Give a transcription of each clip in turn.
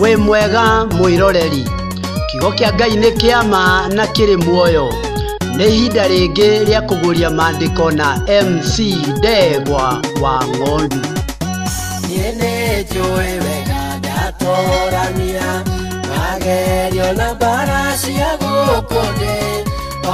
wĩ mwega mwĩroreri kiugo kĩa ngai nĩ kĩa ma na kĩrĩ muoyo nĩ ihinda rĩngĩ rĩa kũguria maandĩko na mc ndegwa wa ng'ondu niĩ nĩ njũĩ wega ndatorania magerio na mbara cia gũkũ thĩ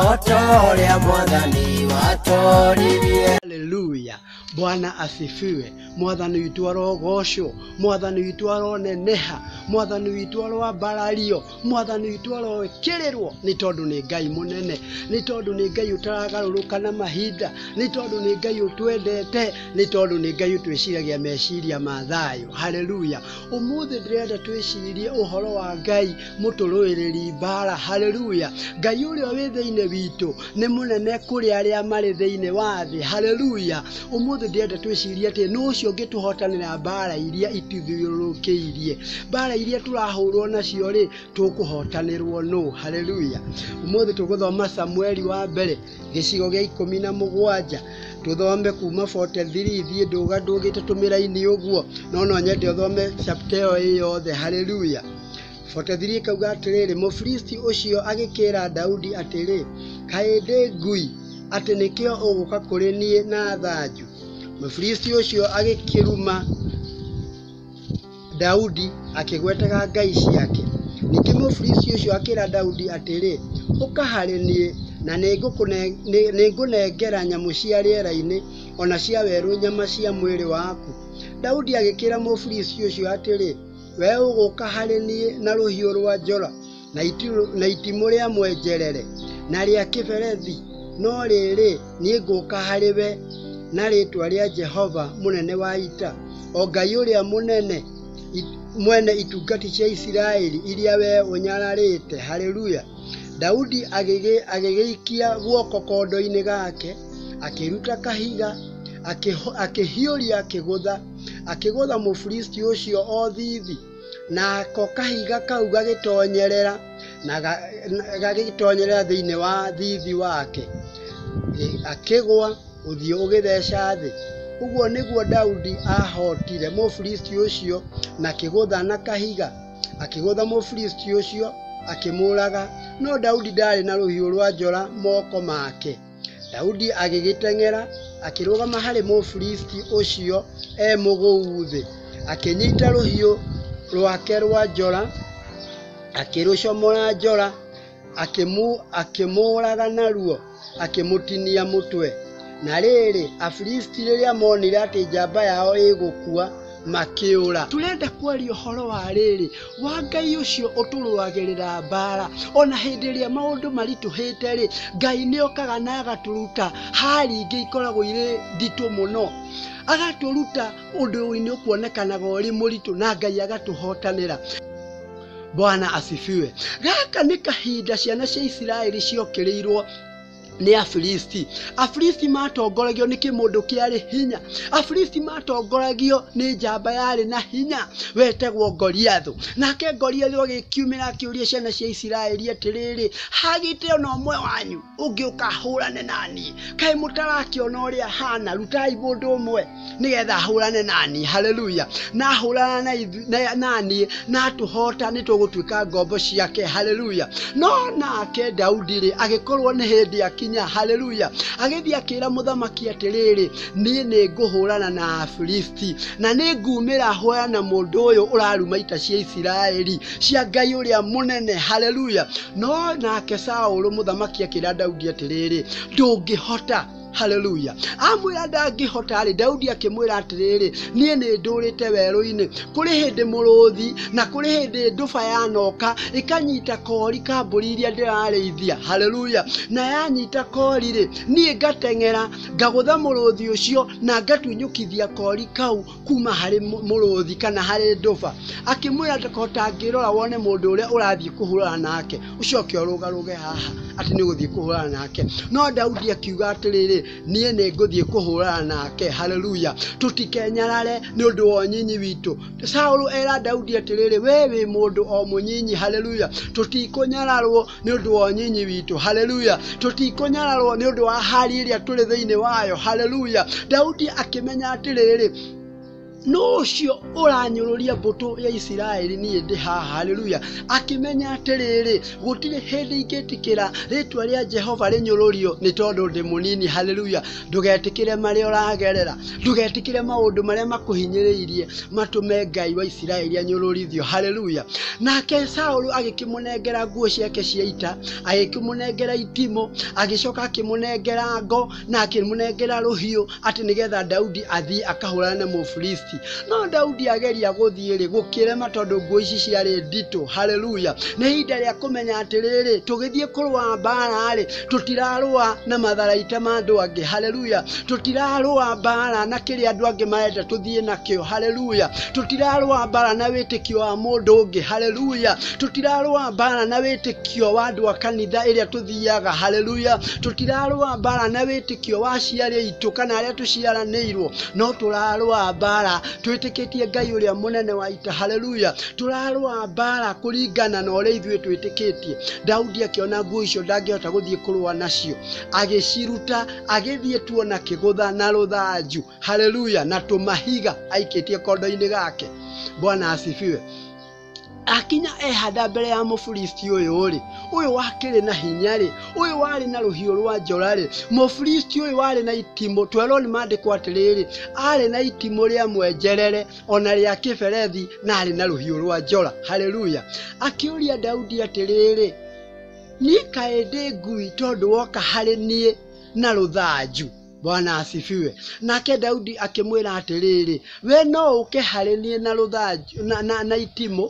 o ta ũrĩa mwathani watoririe haleluya Bwana asifiwe. Mwathani witũ arogocwo, mwathani witũ aroneneha, mwathani witũ aroambarario, mwathani witũ aroĩkĩrĩrwo, nĩ tondũ nĩ Ngai mũnene, nĩ tondũ nĩ Ngai ũtaragarũrũka na mahinda, nĩ tondũ nĩ Ngai ũtwendete, nĩ tondũ nĩ Ngai ũtwĩciragia meciria ma thayũ. Haleluya! Ũmũthĩ ndĩrenda twĩcirie ũhoro wa Ngai mũtũrũĩrĩri mbara haleluya ngai ũrĩa wĩ thĩinĩ witũ nĩ mũnene kũrĩ arĩa marĩ thĩinĩ wa thĩ haleluya ũmũthĩ ndĩrenda twĩcirie atĩ nũ ũcio ũngĩtũhotanĩra mbara iria ituthiũrũrũkĩirie mbara iria tũrahũrwo nacio rĩ tũkũhotanĩrwo nũ haleluya ũmũthĩ tũgũthoma samueli wa mbere gĩcigo gĩa ikũmi na mũgwanja tũthome kuma 43 thiĩ ndũga ndũgĩte tũmĩraini ũguo no no nyende ũthome chapter ĩyo ĩyothe haleluya 43 ikauga atĩrĩrĩ, Mũfilisti ũcio agĩkĩĩra Daudi atĩrĩ, kaĩ ndĩ ngui atĩ nĩkĩo ũgũka kũrĩ niĩ na thanju? Mũfilisti ũcio agĩkĩruma Daudi akĩgwetaga ngai ciake. Ningĩ Mũfilisti ũcio akĩra Daudi atĩrĩ, ũka harĩ niĩ na nĩngũnengera nyamũ cia rĩera-inĩ o na cia werũ nyama cia mwĩrĩ waku. Daudi agĩkĩra Mũfilisti ũcio atĩrĩ, We ũgũka harĩ niĩ na rũhiũ rwa njora na itimũ rĩa mwenjerere na rĩa kĩberethi, no rĩrĩ, niĩ ngũka harĩ we na rĩtwa rĩa Jehova mũnene wa ita, o Ngai ũrĩa mũnene mwene itungati cia Isiraeli iria we ũnyararĩte. Haleluya! Daudi agĩgĩikia guoko kondo-inĩ gake, akĩruta kahiga, akĩhiũria akĩgũtha akĩgũtha mũfilisti ũcio o thithi nako kahiga kau gagĩtonyerera na ga- na- gagĩtonyerera thĩinĩ wa thithi wake Gĩ- akĩgwa ũthiũ ũgĩtheca thĩ ũguo nĩguo daudi ahotire mũfilisti ũcio na kĩgũtha na kahiga akĩgũtha mũfilisti ũcio akĩmũũraga no daudi ndaarĩ na rũhiũ rwa njora moko make Daudi agĩgĩteng'era akĩrũgama harĩ Mũfilisti ũcio e mũgũu thĩ, akĩnyita rũhiũ rwake rwa njora, akĩrũcomora njora, akĩmũũraga naruo, akĩmũtinia mũtwe. Na rĩrĩ, Afilisti rĩrĩa monire atĩ njamba yao ĩgũkua, makĩũra tũrenda kwaria ũhoro wa rĩrĩ wa ngai ũcio ũtũrũagĩrĩra mbara ona hĩndĩ ĩrĩa maũndũ maritũhĩte rĩ ngai nĩ okaga na agatũruta hari ingĩ ikoragwo irĩ nditũ mũno agatũruta ũndũ ũinĩ ũkuonekanaga ũrĩ mũritũ na ngai agatũhotanĩra bwana asifiwe gaka nĩ kahinda ciana cia isiraeli ciokĩrĩirwo nĩ afilisti afilisti matongoragio nĩ kĩmũndũ kĩarĩ hinya afilisti matongoragio nĩ njamba yarĩ na hinya wetagwo goliathu nake goliathu agĩkiumĩra akĩũria ciana cia isiraeli atĩrĩrĩ hagĩte ona ũmwe wanyu ũngĩũka ahũrane naniĩ kaĩ mũtarakĩona ũrĩa hana rutai mũndũ ũmwe nĩgetha ahũrane nani haleluya na ahũrana na ithu- na- nani na atũhota nĩ tũgũtuĩka ngombo ciake haleluya no nake daudi rĩ agĩkorwo nĩ hĩndĩ akinya haleluya agĩthiĩ akĩra mũthamaki atĩrĩrĩ niĩ nĩ ngũhũrana na afilisti na nĩ ngumĩra hũrana na mũndũ ũyũ ũraruma ita cia isiraeli cia ngai ũrĩa mũnene haleluya no nake saũlũ mũthamaki akĩra daudi atĩrĩrĩ ndũngĩhota haleluya amwĩra ndangĩhota rĩ daudi akĩmwĩra atĩrĩrĩ niĩ nĩ ndũrĩte werũ-inĩ kũrĩ hĩndĩ mũrũthi na kũrĩ hĩndĩ ndũba yanoka ĩkanyita kori ka mbũri iria ndĩrarĩithia haleluya na yanyita kori rĩ niĩ ngateng'era ngagũtha mũrũthi ũcio na ngatunyũkithia kori kau kuma harĩ mũ- mũrũthi kana harĩ ndũba akĩmwĩra ndakahota ngĩrora wone mũndũ ũrĩa ũrathiĩ kũhũrana nake ũcoke ũrũgarũge haha atĩ nĩ gũthiĩ kũhũrana nake no daudi akiuga atĩrĩrĩ niĩ nĩ ngũthiĩ kũhũrana nake haleluya tũtikenyarare nĩ ũndũ wa ũnyinyi witũ saũlũ era daudi atĩrĩrĩ we wĩ mũndũ o mũnyinyi haleluya tũtikũnyararwo nĩ ũndũ wa ũnyinyi witũ haleluya tũtikũnyararwo nĩ ũndũ wa hali ĩrĩa tũrĩ thĩinĩ wayo haleluya daudi akĩmenya atĩrĩrĩ no ũcio ũranyũrũria mbũtũ ya isiraeli niĩ ndĩ haha haleluya akĩmenya atĩrĩrĩ gũtirĩ hĩndĩ ingĩtĩkĩra rĩtwa rĩa jehova rĩnyũrũrio nĩ tondũ ndĩ mũnini haleluya ndũgetĩkĩre marĩa ũragerera ndũgetĩkĩre maũndũ marĩa makũhinyĩrĩirie matũme ngai wa isiraeli anyũrũrithio haleluya nake saũlũ agĩkĩmũnengera nguo ciake cia ita agĩkĩmũnengera itimũ agĩcoka akĩmũnengera ngo na akĩmũnengera rũhiũ atĩ nĩgetha daudi athiĩ akahũrana na mũfilisti no daudi ageria gũthiĩ-rĩ gũkĩrema tondũ nguo ici ciarĩ nditũ haleluya nĩ ihinda rĩa kũmenya atĩrĩrĩ tũgĩthiĩ kũrũa mbara-rĩ tũtirarũa na matharaita ma andũ angĩ haleluya tũtirarũa mbara na kĩrĩa andũ angĩ marenda tũthiĩ nakĩo haleluya tũtirarũa mbara na wĩtĩkio wa mũndũ ũngĩ haleluya tũtirarũa mbara na wĩtĩkio wa andũ a kanitha ĩrĩa tũthiaga haleluya tũtirarũa mbara na wĩtĩkio wa aciari aitũ kana arĩa tũciaranĩirwo no tũrarũa mbara twĩtĩkĩtie ngai ũrĩa mũnene wa ita haleluya tũrarũa mbaara kũringana na ũrĩa ithuĩ twĩtĩkĩtie daudi akĩona nguo icio ndangĩhota gũthiĩ kũrũa nacio agĩciruta agĩthiĩ tuo na kĩgũtha na rũthanju haleluya na tũmahiga aikĩtie kondo-inĩ gake bwana asifiwe akinya ehanda mbere ya mũfilisti ũyũ rĩ ũyũ wakĩrĩ na hinya rĩ ũyũ warĩ na rũhiũ rwa njora rĩ mũfilisti ũyũ warĩ na itimũ twerwo nĩ maandĩko atĩrĩrĩ arĩ na itimũ rĩa mwenjerere ona rĩa kĩberethi na arĩ na rũhiũ rwa njora haleluya akĩũria daudi atĩrĩrĩ niĩ kaĩ ndĩ ngui tondũ woka harĩ niĩ na rũthanju bwana asifiwe nake daudi akĩmwĩra atĩrĩrĩ we no ũke harĩ niĩ na rũthanju na, na, na itimũ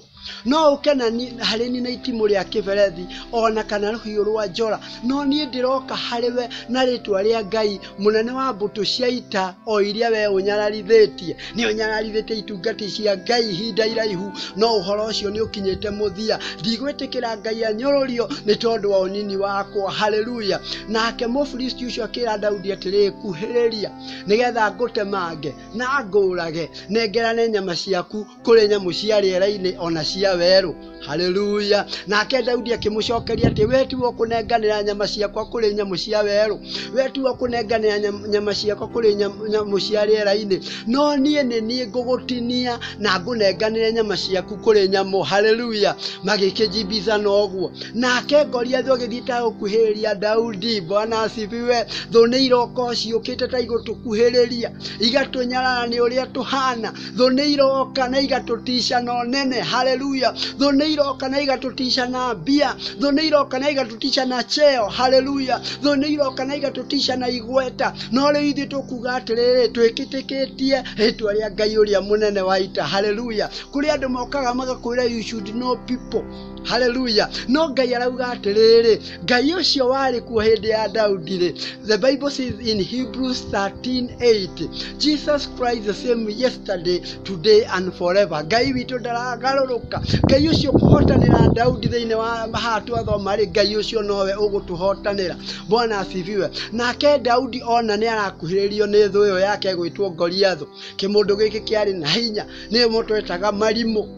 no ũke na ni- harĩ ni na itimũ rĩa kĩberethi o na kana rũhiũ rwa njora no niĩ ndĩroka harĩ we na rĩtwa rĩa ngai mũnene wa mbũtũ cia ita o iria we ũnyararithĩtie nĩ ũnyararithĩtie itungati cia ngai ihinda iraihu no ũhoro ũcio nĩ ũkinyĩte mũthia ndigwĩtĩkĩra ngai anyũrũrio nĩ tondũ wa ũnini wakwa haleluya nake mũfilisti ũcio akĩra daudi atĩrĩ kuhĩrĩria nĩgetha ngũtemange na ngũũrage nengerane nyama ciaku kũrĩ nyamũ cia rĩera-inĩ o na cia werũ haleluya nake daudi akĩmũcokeria atĩ we tiwe ũkũnenganĩra nyama ciakwa kũrĩ nyamũ cia werũ we tiwe ũkũnenganĩra nyam- nyama ciakwa kũrĩ nyam- nyamũ cia rĩera-inĩ no niĩ nĩ niĩ ngũgũtinia na ngũnenganĩre nyama ciaku kũrĩ nyamũ haleluya magĩkĩnjibithana ũguo nake goliathi ũgĩthiĩte gũkuhĩrĩria daudi bwana asifiwe thũ nĩ iroka ciũkĩte ta igũtũkuhĩrĩria igatũnyarara nĩ ũrĩa tũhana thũ nĩ iroka na igatũticia na ũnene haleluya thũ nĩ iroka na igatũticia na mbia thũ nĩ iroka na igatũticia na cheo haleluya thũ nĩ iroka na igatũticia na igweta no rĩu ithuĩ tũkuga atĩrĩrĩ twĩkĩtĩkĩtie rĩtwa rĩa ngai ũrĩa mũnene wa ita haleluya kũrĩ andũ mokaga magakwĩra you should know people haleluya no ngai arauga atĩrĩrĩ ngai ũcio warĩ kuo hĩndĩ ya daudi-rĩ the bible says in hebrews 13:8 jesus christ the same yesterday today and forever ngai witũ ndaragarũrũka ngai ũcio kũhotanĩra daudi thĩinĩ wa haha twathoma-rĩ ngai ũcio nowe ũgũtũhotanĩra bwana asifiwe nake daudi ona nĩ arakuhĩrĩrio nĩ thũ ĩyo yake gwĩtwo goliathu kĩmũndũ gĩkĩ kĩarĩ na hinya nĩmo twetaga marimũ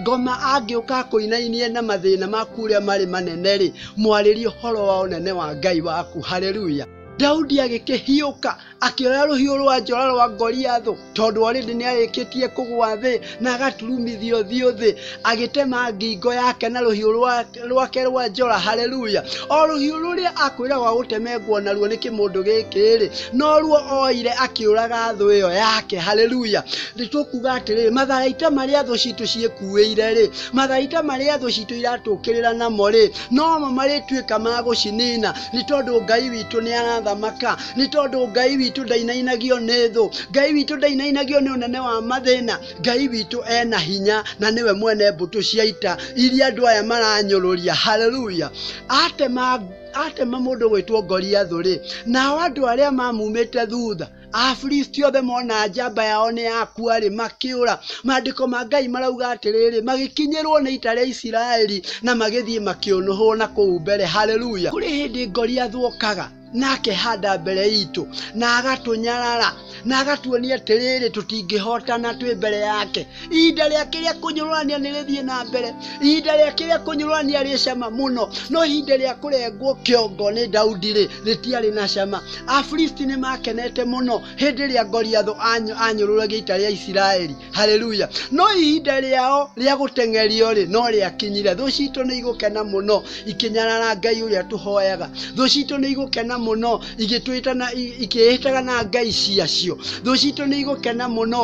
ngoma angĩũka kũinainie na mathĩna maku ũrĩa marĩ manene-rĩ mwarĩrie ũhoro wa ũnene wa ngai waku haleluya daudi agĩkĩhiũka akĩoya rũhiũ rwa njora rwa ngoriathũ tondũ orĩndĩ nĩ arĩkĩtie kũgwa thĩ na agaturumithio thiũ thĩ agĩtema ngingo yake na rũhiũ rwa rwake rwa njora haleluya o rũhiũ rũrĩa akwĩra wa gũtemengwo naruo nĩ kĩmũndũ gĩkĩ-rĩ noruo oire akĩũraga thũ ĩyo yake haleluya nĩtũkuga atĩrĩrĩ matharaita marĩa thũ citũ ciĩkuĩire-rĩ matharaita marĩa thũ citũ iratũkĩrĩra namo-rĩ nomo marĩtuĩka ma gũcinina nĩ tondũ ngai witũ nĩ arathamaka nĩ tondũ ngai witũ ndainainagio nĩ thũ ngai witũ ndainainagio nĩ ũnene wa mathĩna ngai witũ ena hinya na nĩwe mwene mbũtũ cia ita iria andũ aya maranyũrũria haleluya atema atema mũndũ gwĩtwo ngoriathũ rĩ nao andũ arĩa mamumĩte thutha afilisti othe mona njamba yao nĩ yakua rĩ makĩũra maandĩko ma ngai marauga atĩrĩrĩ magĩkinyĩrwo nĩ ita rĩa isiraeli na magĩthiĩ makĩũnũhwo na kũu mbere haleluya kũrĩ hĩndĩ ngoriathũ okaga na akehanda mbere itũ na agatũnyarara na agatuonia atĩrĩrĩ tũtingĩhotana twĩ mbere yake ihinda rĩake rĩa kũnyũrũrania nĩ rĩthiĩ na mbere ihinda rĩake rĩa kũnyũrũrania rĩ cama mũno no ihinda rĩa kũrengwo kĩongo nĩ daudi rĩ rĩtiarĩ na cama afilisti nĩ makenete mũno hĩndĩ ĩrĩa goliatho anyũ- anyũrũragia ita rĩa isiraeli haleluya no ihinda rĩao rĩa gũteng'erio rĩ no rĩakinyire thũ citũ nĩ igũkena mũno ikĩnyarara ngai ũrĩa tũhoyaga thũ citũ nĩ igũkena mũno igĩtwĩtana i- ikĩĩhĩtaga na ngai ciacio thũ citũ nĩ igũkena mũno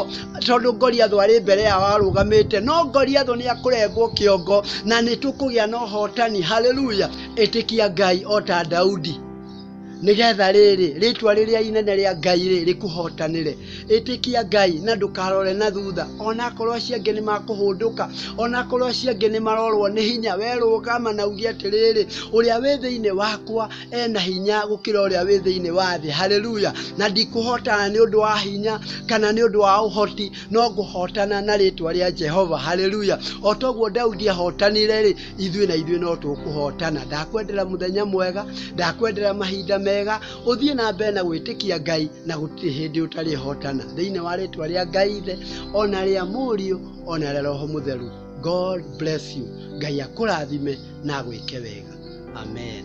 tondũ ngoriathũ arĩ mbere yao arũgamĩte no ngoriathũ nĩ akũrengwo kĩongo na nĩ tũkũgĩa na ũhotani haleluya ĩtĩkia ngai o ta daudi nĩgetha rĩrĩ rĩtwa rĩrĩa inene rĩa ngai rĩ rĩkũhotanĩre ĩtĩkia ngai na ndũkarore na thutha onakorwo acio angĩ nĩ makũhũndũka onakorwo acio angĩ nĩ marorwo nĩ hinya werũgama na uge atĩrĩrĩ ũrĩa wĩ thĩinĩ wakwa ena hinya gũkĩra ũrĩa wĩ thĩinĩ wa thĩ haleluya na ndikũhotana nĩ ũndũ wa hinya kana nĩ ũndũ wa ũhoti no ngũhotana na rĩtwa rĩa jehova haleluya o toguo daudi ahotanire rĩ ithuĩ na ithuĩ no tũkũhotana ndakwendera mũthenya mwega ndakwendera mahinda mega ũthiĩ na mbere na gwĩtĩkia ngai na gũtirĩ hĩndĩ ũtarĩhotana thĩinĩ wa rĩtwa rĩa ngai ithe ona rĩa mũriũ ona rĩa roho mũtheru god bless you ngai akũrathime na agwĩke wega amen